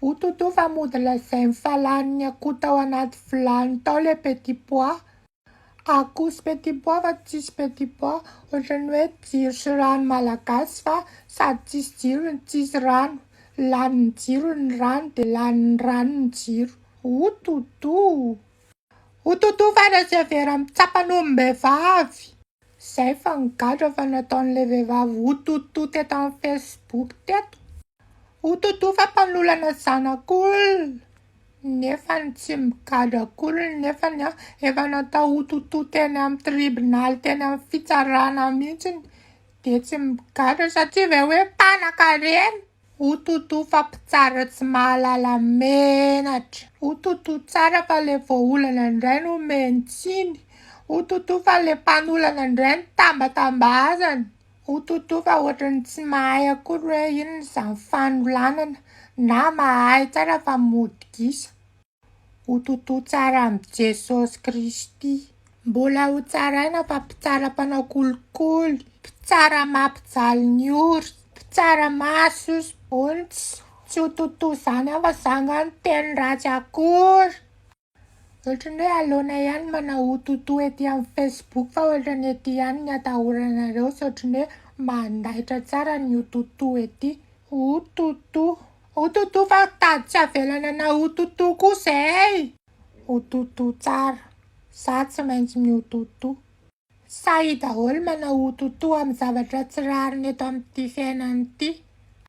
O Toto fa mody lazainy fa lanin'ny akoho tao anaty vilany tao ilay petit pois. Akoho sy petit pois fa tsisy petit pois. Ohatran'ny hoe jiro sy rano malagasy fa sady tsisy jiro no tsisy rano. Lanin'ny jiro ny rano dia lanin'ny rano ny jiro. O Toto! O Toto fa raha severa amin'ny tsapan'ombivavy! Zay fa nigadra fa nataon'ilay vehivavy hototo teto amin'ny Facebook teto, hototo fa mpanolana zanak'olona nefa ny tsy migadra akory nefa ny efa natao hototo teny amin'ny tribonaly teny amin'ny fitsarana mihitsy dia tsy migadra satria ve hoe mpanankarena. O Toto fa mpitsara tsy mahalala menatra. O Toto tsara fa le voaolana ndray no omeny tsiny. O Toto fa le mpanolana ndray no tambatambazany. O Toto fa ohatran'ny tsy mahay akory hoe inona izany fanolanana na mahay tsara fa mody gisa. Ho tontoa tsara amin'i Jesosy Kristy. Mbola ho tsaraina fa mpitsara mpanao kolikoly, mpitsara mampijaly ny ory, mpitsara mahasosy bontsy. Tsy ho tontoa izany aho fa izaho angaha no teny ratsy akory. Ohatran'ny hoe aleonay ihany ny manao ho tontoa ety amin'ny Facebook fa ohatran'ny ety ihany ny atahoranareo sy ohatran'ny hoe mandaitra tsara ny ho tontoa ety. Ho tontoa. O Toto fa tady tsy avelana anao ho Toto kosa ey! O Toto tsara, za tsy maintsy mi o Toto. Sahy daholo manao o Toto amin'ny zavatra tsy rariny eto amin'ity fiainana ity.